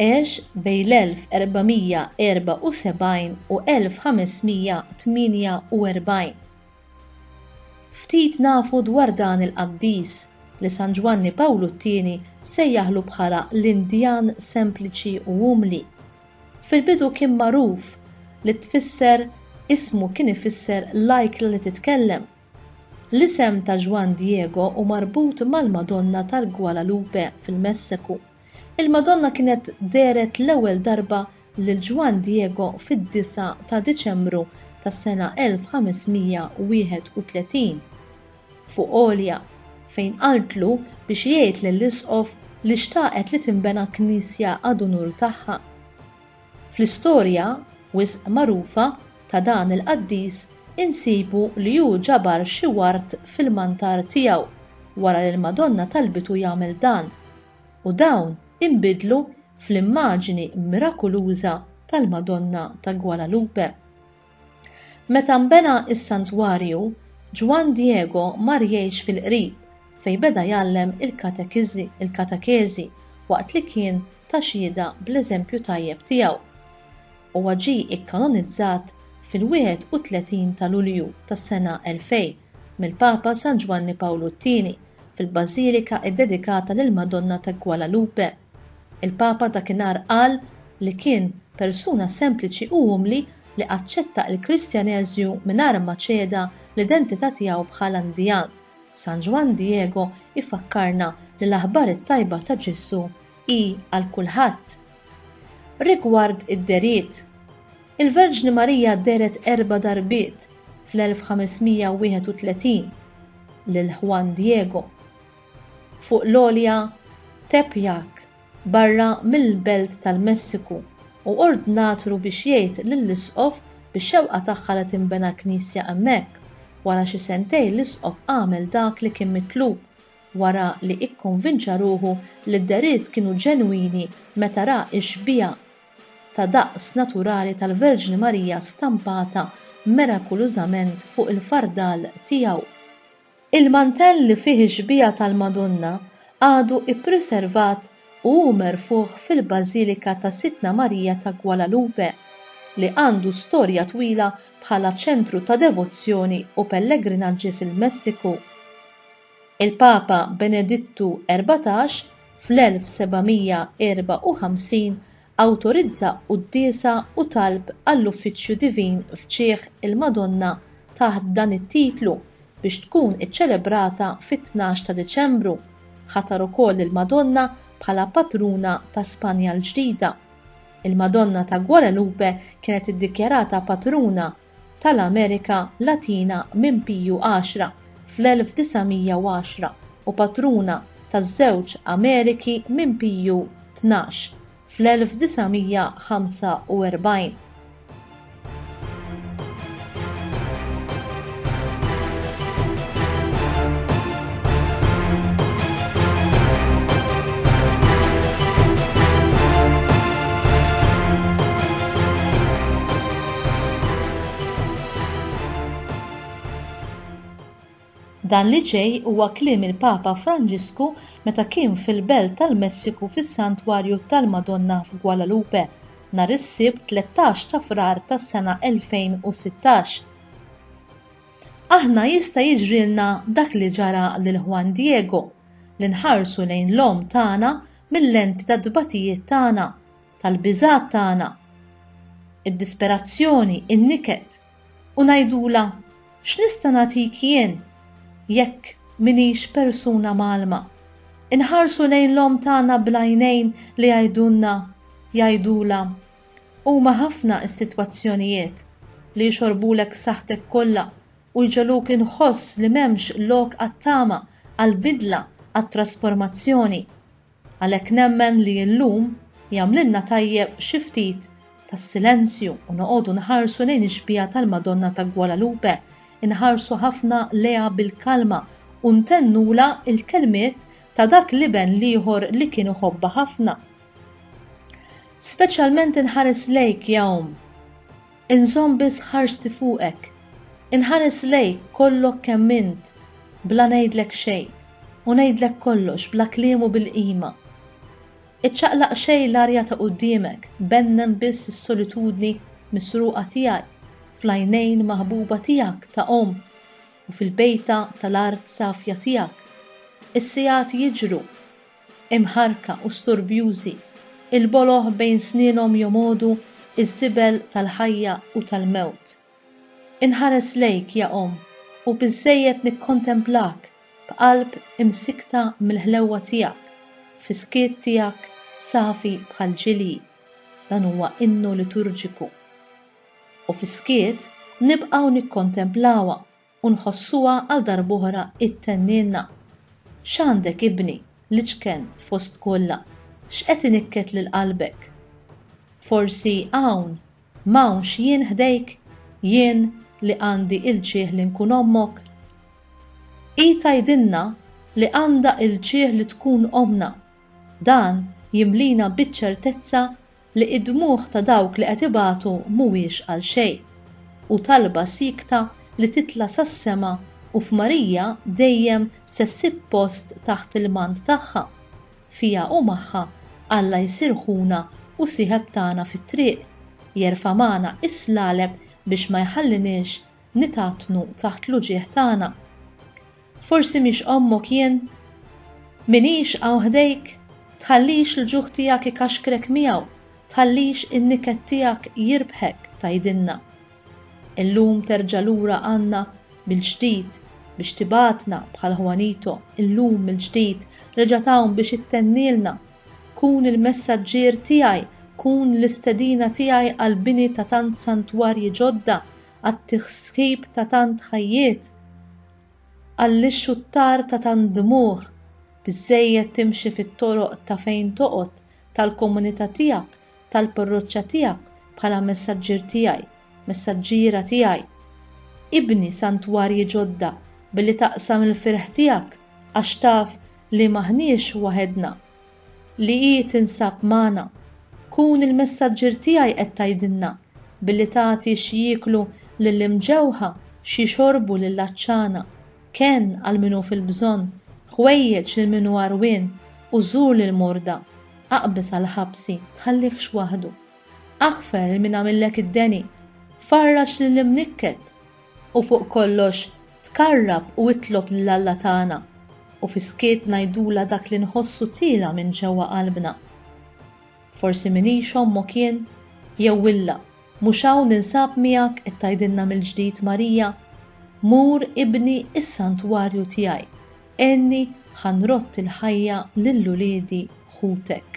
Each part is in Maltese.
Għex bejn l-1474 u 1548. Ftit nafu dwar dan il-qaddis, li San Ġwanni Pawlu t-Tieni sejjaħlu bħala l-Indjan sempliċi u umli. Fil-bidu kien magħruf li tfisser ismu kien ifisser l-ajkla li titkellem. L-isem ta' Juan Diego hu marbut mal-Madonna tal-Guadalupe fil-Messeku. Il-Madonna kienet dehret l-ewwel darba lil Ġwann Diego fid-disgħa ta' Diċembru tas-sena 1531, fuq għolja, fejn qaltlu biex jgħid lill-Isqof li xtaqet li tinbena knisja għad-unur tagħha. Fl-istorja wisq magħrufa ta' dan il-qaddis insibu li hu ġabar xi ward fil-mantar tiegħu wara li l-Madonna talbitu jagħmel dan, u dawn inbidlu fl-immaġini mirakuluża tal-Madonna ta' Guadalupe. Meta nbena s-santwarju, Juan Diego mar jgħix fil-qrib fejn beda jgħallem il-katekeżi waqt li kien ta xhieda bl-eżempju tajjeb tiegħu. Huwa ġie ikkanonizzat fil-31 ta' Lulju tas-sena 2000 mill-Papa San Ġwanni Pawlu t-Tieni fil-bażilika ddedikata lill-Madonna ta' Guadalupe. Il-Papa dakinhar qal li kien persuna sempliċi u umli li aċċetta l-Kristjaneżju mingħajr ma ċeda l-identità tiegħu bħala Indian. San Ġwann Diego jfakkarna li l-aħbar it-tajba ta' Ġesù hi għal kulħadd. Rigward id-dehriet, il-Verġni Marija dehret erba' darbiet fl-1531 lil Juan Diego. fuq l-għolja Tepeyac barra mill-belt tal-Messiku u ordnatlu biex jgħid lill-isqof bix-xewqa tagħha li tinbena knisja hemmhekk. Wara xi sentejn l-isqof għamel dak li kien mitlub wara li ikkonvinċa ruħu li d-dehriet kienu ġenwini meta ra x-xbieha ta' daqs naturali tal-Verġni Marija stampata mirakulużament fuq il-fardal tiegħu. Il-mantell li fih ix-xbieha tal-Madonna għadu ppriservat u hu merfugħ fil-Bażilika ta' Sidtna Marija ta' Guadalupe, li għandu storja twila bħala ċentru ta' devozzjoni u pellegrinaġġi fil-Messiku. Il-Papa Benedittu Erbatax fl-1754 Awtorizza quddiesa u talb għall-Uffiċċju Divin f'ġieħ il-Madonna taħt dan it-titlu biex tkun iċċelebrata fit-tnax ta' Diċembru. Ħatar ukoll lill-Madonna bħala patruna ta' Spanja l-Ġdida. Il-Madonna ta' Guadalupe kienet iddikjarata patruna tal-Amerika Latina minn Piju Għaxra fl-1910 u patruna taż-żewġ Ameriki minn Piju Tnax fl-1945. Dan li ġej huwa kliem il-Papa Franġisku meta kien fil-Belt tal-Messiku fis-Santwarju tal-Madonna f'Guadalupe nhar is-Sibt 13 ta' Frar tas-sena 2016. Aħna jista' jiġrilna dak li ġara lil Juan Diego, li nħarsu lejn l-Omm tagħna mil-lenti tat-tbatijiet tagħna, tal-biżgħat tagħna, id-disperazzjoni, in-niket, u ngħidulha, X'nista' nagħtik jien jekk m'iniex persuna mgħallma? Inħarsu lejn l-omm tagħna bl-għajnejn li jgħidulna, jgħidulha, Huma ħafna s-sitwazzjonijiet li jxorrbulek saħħtek kollha u jġegħluk inħoss li m'hemmx lok għat-tama, għall-bidla, għat-trasformazzjoni. Għalhekk nemmen li llum jagħmlilna tajjeb xi ftit ta' silenzju u noqogħdu nħarsu lejn ix-xbieha tal-Madonna ta' Guadalupe, inħarsu ħafna lejha bil-kalma u ntennulha l-kelmiet ta' dak l-Iben l-ieħor li kien iħobbha ħafna. Speċjalment inħares lejk, ja Omm. Inżomm biss ħarsti fuqek. Inħares lejk kollok kemm int, bla ngħidlek xejn, u ngħidlek kollox bla kliem u bil-qima. Iċċaqlaq xejn l-arja ta' quddiemek, bennen biss is-solitudni misruqa tiegħi fl-għajnejn maħbuba tiegħek ta' omm u fil-bejta tal-art safja tiegħek. Is-sigħat jiġru. imħarrka u sturbjużi, il-boloh bejn snienhom jomgħodu ż-żibel tal-ħajja u tal-mewt. Inħares lejk, ja Omm, u biżżejjed nikkontemplak b'qalb imsikkta mill-ħlewwa tiegħek, fis-skiet tiegħek safi bħall-ġilji, dan huwa innu liturġiku. U fis-skiet nibqgħu nikkontemplawha u nħossuha għal darb'oħra ttennilna, X'għandek ibni, l-iċken fost kollha, x'qed inikket lil qalbek? Forsi hawn, m'hawnx jien ħdejk, jien li għandi l-ġieħ li nkun ommok? Hi tgħidilna li għandha l-ġieħ li tkun ommna, dan jimlina biċ-ċertezza li id-dmugħ ta' dawk li qed ibatu mhuwiex għal xejn, u talba siekta li titla' sas-sema u f'Marija dejjem se ssib post taħt il-mant tagħha, fiha u magħha Alla jsir ħuna u sieħeb tagħna fit-triq, jerfa' magħna is-slaleb biex ma jħalliniex Nitgħattnu taħt l-uġigħ tagħna. Forsi mhix ommok jien? M'iniex hawn ħdejk? Tħallix l-ġuħ tiegħek ikaxkrek miegħu, tħallix in-niket tiegħek jirbħek, tgħidilna. Illum terġa' lura għandna mill-ġdid biex tibgħatna bħal Juanito, illum mill-ġdid reġgħet hawn biex ittennilna. Kun il-messaġġier tiegħi, kun l-istedina tiegħi għall-bini ta' tant santwarji ġodda għat-tisħib ta' tant ħajjiet, għall-ixxuttar ta' tant dmugħ, biżżejjed timxi fit-toroq ta' fejn toqgħod, tal-komunità tiegħek, tal-parroċċa tiegħek bħala messaġġier tiegħi, messaġġiera tiegħi. Ibni santwarji ġodda billi taqsam il-ferħ tiegħek għax taf li m'aħniex waħedna. li hi tinsab magħna. Kun il-messaġġier tiegħi qed tgħidilna billi tagħti x'jieklu lill-imġewħa, x'jixorbu lill-għatxana, kenn għal min hu fil-bżonn, ħwejjeġ lil min hu għarwien u żur lill-morda, aqbeż għall-ħabsi, tħallihx waħdu. Aħfer lil min għamillek id-deni, farrax lill-imnikket, U fuq kollox, tqarrab u itlob lil Alla tagħna, u fis-skiet ngħidulha dak li nħossu tiela' minn ġewwa qalbna. Forsi m'iniex ommok jien? Jew illa, mhux hawn ninsab miegħek qed tgħidilna mill-ġdid Marija, Mur ibni s-santwarju tiegħi, għenni ħa nrodd il-ħajja lil uliedi ħutek.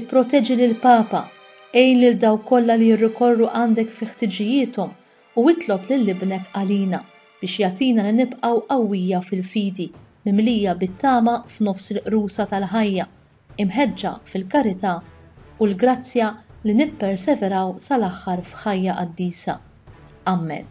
Ipproteġi lill-Papa, għin lil dawk kollha li jirrikorru għandek fi ħtiġijiethom u itlob lil Ibnek għalina biex jagħtina li nibqgħu qawwija fil-fidi, mimlija bit-tama f'nofs il-qrusa tal-ħajja, imħeġġa fil-karità u l-grazzja li nipperseveraw sal-aħħar f'ħajja qaddisa. Ammen.